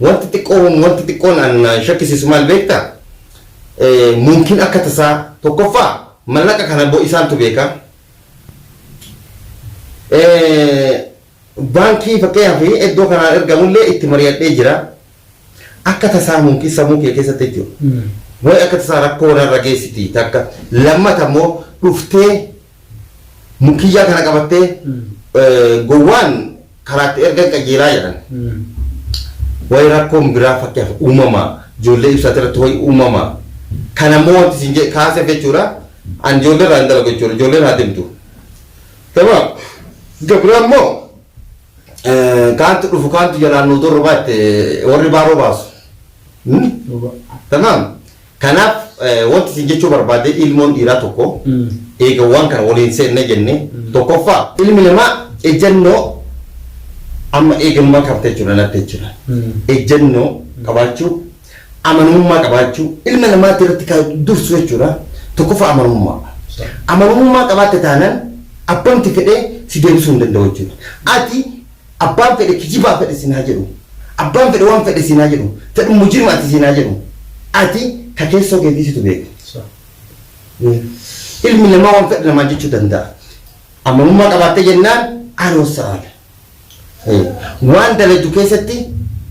Wanti xiqqoo homa wanti xiqqoon an na shakkisiisu maal beekta? Mumkin akka tasaa tokkoffaa mallaqa kana bo isaantu beeka. Baankii fakkeenyaaf iddoo kanaan ergamullee itti mari'adhee jira. Akka tasaa mumkin samuu kee keessatti jechuudha. Way akka tasaa rakkoo narra geessiti takka. Lammata immoo dhuftee Mukkiyyaa kana qabattee gowwaan karaatti ergan qajeelaa jedhan. Wayi rakkoon biraa fakkeef uumamaa ijoollee ibsaati irratti wayi uumamaa kana immoo wanti isin jedhe kaaseef jechuudha an ijoollee irraa hin dalagu jechuudha ijoolleen haa deemtu. Gabaa gabraa immoo kaantu dhufu kaantu jalaan nu dorrobaa itti warri baaroo baasu. Tamam Kanaaf wanti isin jechuu barbaade ilmoon dhiiraa tokko eega waan kana waliin seenne jenne tokkoffaa ilmi namaa ejjannoo amma eeganumaa qabate jechuudha natti jechuudha. Ejjannoo qabaachuu amanamummaa qabaachuu ilma namaatti irratti kan dursu jechuudha tokkoffaa amanamummaa. Amanamummaa qabaatte taanaan abbamti fedhee si deebisuu hin danda'u jechuudha. Ati Abbaan fedhe kijibaa fedhe sin haa jedhu abbaan fedhe waan fedhe siin haa jedhu fedhu mujirima ati siin haa jedhu ati ka keessoo keetii situ beeka ilmi namaa waan fedhe namaan jechuu danda'a amanummaa qabaattee jennaan aroossaadha waan dalaydu keessatti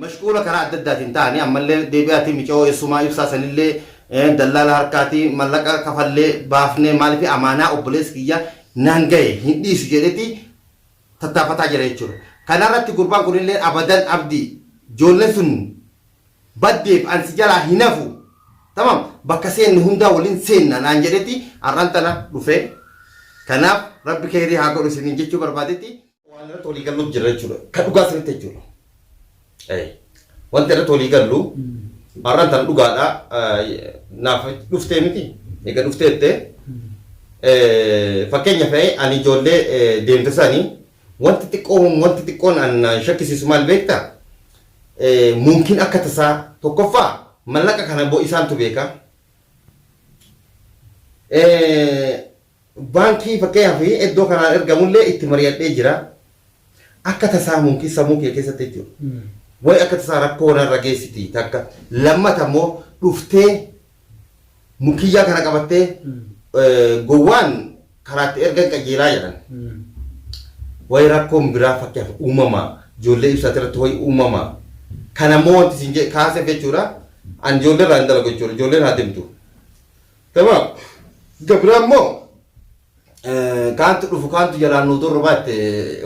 Mashquula karaa adda addaatiin ta'anii ammallee deebi'aatii micayoo eessumaa ibsaa sanillee dallaala harkaatii mallaqa kafallee baafnee maaliif amaanaa obboleessi kiyya naan gahe hin dhiisu jedhetii tattaafataa jira jechuudha. Kanarratti gurbaan kunillee abadan abdii ijoolleen sun baddeef an si jalaa hin hafu tamam bakka seenne hundaa waliin seenna naan jedhetii har'aan tana dhufee kanaaf rabbi keeyrii haa godhu isiniin jechuu barbaadetii. waan irratti walii galluuf jirra jechuudha. Kan dhugaa sirriitti jechuudha. Eh, Wanti irratti walii gallu har'aan tan dhugaadha eh, naaf dhuftee miti egaa dhuftee jettee eh, fakkeenya fe'ee ani ijoollee eh, deemte isaanii wanti xiqqoon wanti xiqqoon an na shakkisiisu maal beekta Eh, mumkin akka tasaa tokkoffaa mallaqa kana bo isaantu beeka. Eh, Baankii fakkeenyaaf iddoo kanaan ergamullee itti mari'adhee jira. Akka tasaa mumkin sammuu kee keessatti jechuudha. Wayi akka tasaa rakkoo narra geessiti takka. Lammata immoo dhuftee mukkiyyaa kana qabattee gowwaan karaatti ergan qajeelaa jedhan. Wayi rakkoon biraa fakkeenyaaf uumamaa ijoollee ibsaati irratti wayi uumamaa. Kana immoo wanti isin kaaseef jechuudha. An ijoollee irraa hin dalagu jechuudha. Ijoolleen haa deemtu. Tamam. Gabira immoo kaantu dhufu kaantu jalaan nu durra baatte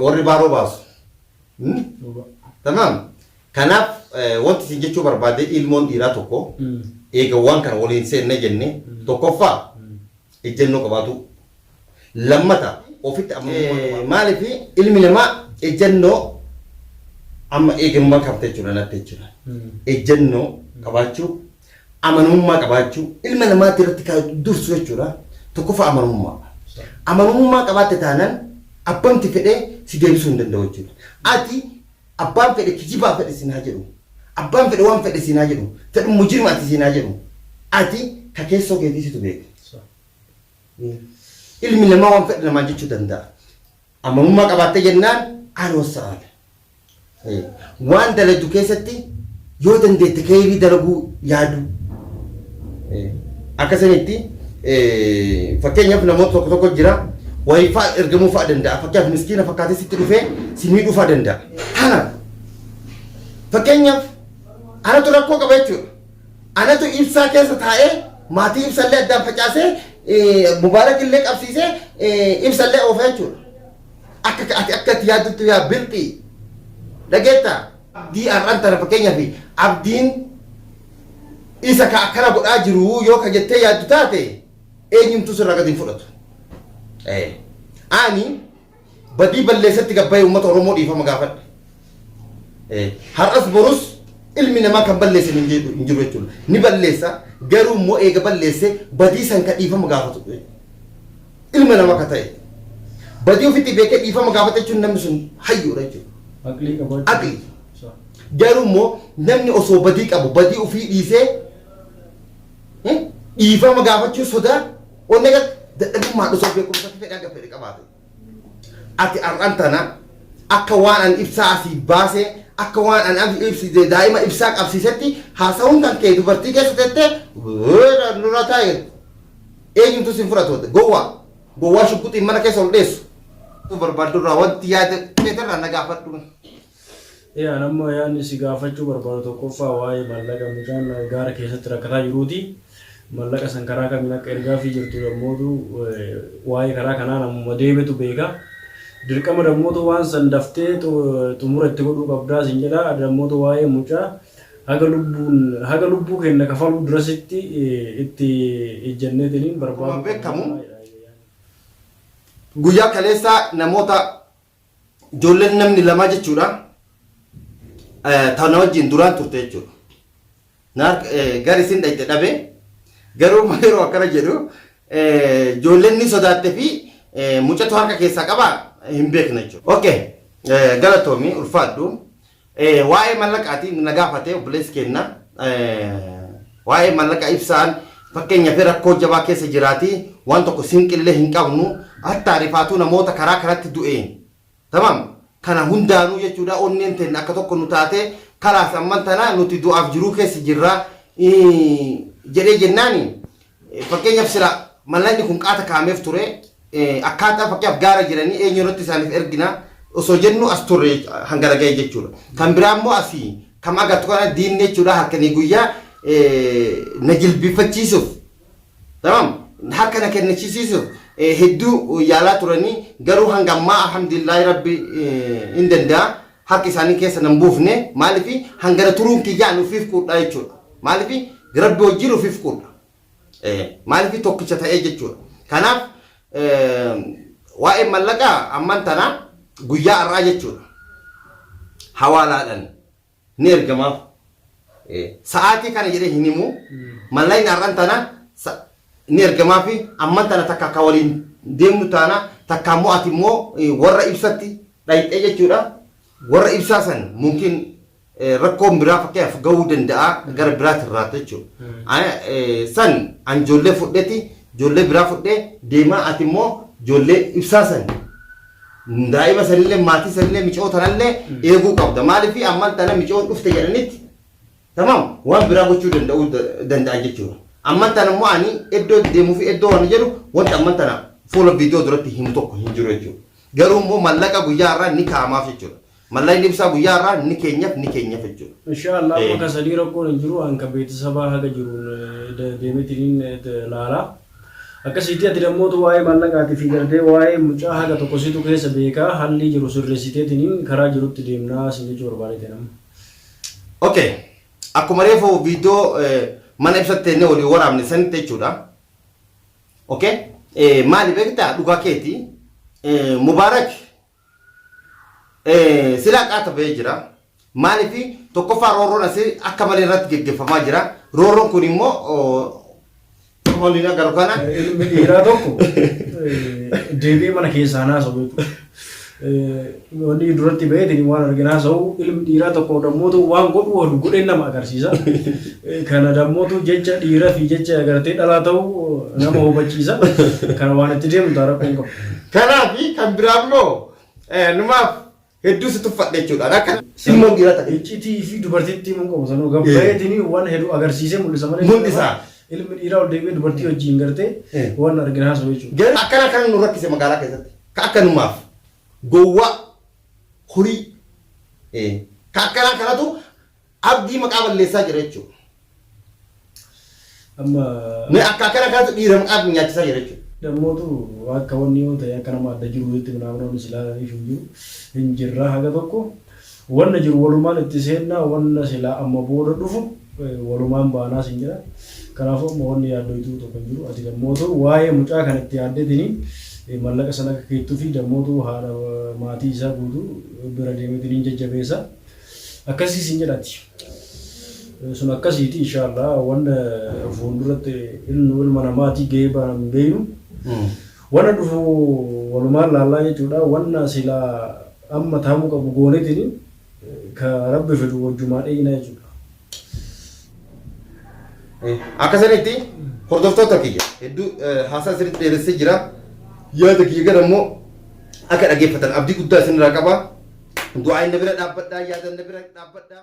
warri baaroo baasu. Hmm? Tamam. Kanaaf eh, wanti isin jechuu barbaade ilmoon dhiiraa tokko eega waan kana waliin seenne jenne tokkoffaa ejjennoo qabaatu. Lammata ofitti amma maaliif ilmi namaa ejjennoo amma eegamuma qabte jechuudha natti jechuudha. Ejjennoo qabaachuu amanamummaa qabaachuu ilma namaatti irratti kan dursu jechuudha. Tokkoffaa amanamummaa. Amanamummaa qabaatte taanaan abbamti fedhe si deebisuu hin danda'u jechuudha. Ati abbaan fedhe kijibaa fedhe siin haa jedhu. Abbaan fedhe waan fedhe siin haa jedhu. Fedhu mujirima ati siin haa jedhu. Ati ka keessoo keetii situ beeka. Ilmi namaa waan fedhe namaan jechuu danda'a. Amanummaa qabaatte jennaan an wassa'aadha. Waan dalaydu keessatti yoo dandeette keeyrii dalaguu yaaduu. Akka sanitti fakkeenyaaf namoota tokko tokko jira wayii fa'a ergamuu fa'a danda'a. Fakkeenyaaf miskiina fakkaatee sitti dhufee si miidhuu fa'a danda'a. Kanaaf fakkeenyaaf anatu rakkoo qaba jechuudha. Anatu ibsaa keessa taa'ee maatii ibsallee addaan facaasee Mubaarak illee qabsiisee ibsallee oofa jechuudha. Akka ati akka itti yaadduttu yaa bilxii. Dhageettaa? Abdii har'aan tana fakkeenyaaf abdiin isa ka akkana godhaa jiru yoo ka jettee yaaddu taate eenyumtuu sirraa gadi hin fudhatu. Ani badii balleessetti gad bahee uummata Oromoo dhiifama gaafadhe. Eh, Har'as borus ilmi namaa kan balleessan hin jiru hin jiru jechuudha. Ni balleessa garuu immoo eega balleessee badii san ka dhiifama gaafatu eh, ilma namaa ka ta'e. Badii ofitti beekee dhiifama gaafata jechuun namni sun hayyuudha jechuudha. Aqlii qabaachuu. Aqlii. Sa- Garuu immoo namni osoo badii qabu badii ofii dhiisee eh, dhiifama gaafachuu sodaa Onnee gatti dadhabummaan osoo beekumsatti fedhe hanga fedhe qabaate. Ati har'an tana akka waan an ibsaa asii baasee akka waan an am- ibsite daa'ima ibsaa qabsiisetti haasa'uun kan kee dubartii keessa teettee "Weera, nurra taa'e eenyumtu sin fudhatu gowwaa gowwaa shugguxiin mana keessa ol dheessu. barbaadurraa wanti yaada keetirraa na gaafadhu. Ee an amma yaadni si gaafachuu barbaadu tokkoffaa waa'ee maallaqa mucaan gaara keessatti rakkataa jiruuti. Maallaqa san karaa kamiin akka ergaafii jirtu dammootu waa'ee karaa kanaa namuma deemetu beeka. Dirqama dammootu waan san daftee xumura itti godhuu qabdaa sin jedha. Dammootu waa'ee mucaa haga lubbuun haga lubbuu keenna kafaluu durasitti itti ejjanneetiniin Akkuma barbaaduu beekamu qabna. guyyaa kaleessaa namoota Ijoolleen namni lamaa jechuudha ta na wajjin duraan turte jechuudha. Naar gar isin dhayxe dhabe garuu ma yeroo akkana jedhu ijoolleen ni sodaatte fi mucatu harka keessaa qaba hin beekna jechuudha. Okay galatoomi ulfaadhu. Waa'ee mallaqaati na gaafate obboleessi keenna. Waa'ee mallaqa ibsaan fakkeenyaaf rakkoo jabaa keessa jiraati waan tokko sinqillee hin qabnu hattaa rifaatuu namoota karaa kanatti du'e tamam kana hundaanuu jechuudha onneen teenna akka tokko nu taate kalaas amman tana nuti du'aaf jiruu keessa jirra jedhee jennaani Fakkeenyaaf sila mallanni kun qaata kaa'ameef ture akkaataa fakkeenyaaf gaara jiranii eenyu irratti isaaniif ergina osoo jennu as turre hanga dhaga'e jechuudha. Kan biraa immoo asii kam agartu kana diinni jechuudha halkanii guyyaa na jilbiiffachiisuuf tamam harka na kennachisiisuuf hedduu yaalaa turanii garuu hanga ammaa alhamdulillaahi rabbi hin danda'a harka isaanii keessa nan buufne maaliif hangana turuun kiyyaa ani ofiif quudhaa jechuudha maaliif rabbi wajjin ofiif quudha maaliif tokkicha ta'ee jechuudha kanaaf waa'ee mallaqaa amman tanaa guyyaa har'aa jechuudha hawaalaadhaan ni ergamaaf sa'aatii kana jedhee hin himu mallaqni har'an tana ni ergamaaf amman tana takka akka waliin deemnu taana takka immoo ati immoo warra ibsatti dhayxee jechuudha. Warra ibsaa san mumkin rakkoon biraa fakkeenyaaf gahuu danda'a gara biraati irraa jechuudha. San an ijoollee fudheeti ijoollee biraa fudhee deemaa ati immoo ijoollee ibsaa san daa'ima sanillee maatii sanillee micoo tanallee eeguu qabda. Maaliif ammaan tana micoon dhufte jedhanitti tamam waan biraa gochuu danda'uu danda'a jechuudha. Ammaan tana immoo ani iddoo deemuu fi iddoo waan jedhu wanti ammaan tana fuula viidiyoo duratti himu tokko hin jiru jechuudha. Garuu immoo mallaqa guyyaa har'aa ni kaa'amaaf jechuudha. Mallaqni ibsaa guyyaa har'aa ni keenyaf ni keenyaf jechuudha. Inshaa Allah amma ka sadii rakkoon hin jiru an ka beetisabaa haga jiruun deemetiniin laala. Akkasiitii ati dammootu waa'ee mallaqaatifi gartee waa'ee mucaa haga tokko situ keessa beeka hallii jiru sirreessiteetiniin karaa jirutti deemnaa sin jechuu barbaadeeteen amma. Ok akkuma reefu viidiyoo mana ibsatti ennee walii waraabne sanitti jechuudha. Okay? Eh, maali beektaa dhugaa keeti eh, Mubaarak eh, silaa qaata ba'ee jira. Maaliifi tokkoffaa roorroon asii akka malee irratti geggeeffamaa jira. Roorroon kun immoo waliin agarru kana Ilmi dhiiraa tokko eh, deebi'ee mana keessaa naasoo beeku. Wanni duratti baheetiin waan argin haasa'u ilmi dhiiraa tokko dammoo ta'u waan godhu waan godheen nama agarsiisa. Kana dammootu jecha dhiiraa fi jecha agartee dhalaa ta'u nama hubachiisa. Kana waan itti deemu ta'a rakkoon qabu. Kanaaf kan biraa immoo numaaf hedduu si tuffadhe jechuudha. Akka ilmoon dhiiraa ta'e. Iccitii fi dubartiitti himuu qabu sanuu gaafa baheetiin waan hedduu agarsiisee mul'isa malee. Mul'isa. Ilmi dhiiraa ol deebi'ee dubartii wajjin gartee waan argin haasa'u jechuudha. Garuu akkana kan nu rakkise magaalaa keessatti. Ka akkanumaaf gowwaa horii ee ka akkanaa kanatu abdii maqaa balleessaa jira jechuu Amma mee akka akkana kanatu dhiira maqaa abdii nyaachisaa jira jechuu dhammootu akka wanni yoo ta'e akka nama adda jiru jetti minaaminaan silaa ifu jiru hin jirra haga tokko Wanna jiru walumaan itti seenna, wanna silaa amma booda dhufu walumaan baanaa sin jedha. Kanaafuu amma wanni yaaddoytuu tokko hin jiru. Ati dammootuu waa'ee mucaa kan itti yaaddeetini mallaqa san akka keettufi dammootuu haadha maatii isaa guutuu bira deemeetini hin jajjabeessa. Akkasii sin jedha ati. Sun akkasiiti inshaallah wanna fuulduratti ilnu ilma namaatii gahee baana hin beeynu. Wanna dhufu walumaan laallaa jechuudha. Wanna silaa Amma taa'uu qabu goonetini ka rabbi fidu wajjumaa dheeyinaa jechuudha. Akka sanitti hordoftoota kiyya hedduu haasaa sirriitti dheeressee jira. Yaada kiyya gara immoo akka dhageeffatan abdii guddaa isinirraa qaba. Du'aa inni bira dhaabbadhaa, yaada inni bira dhaabbadhaa.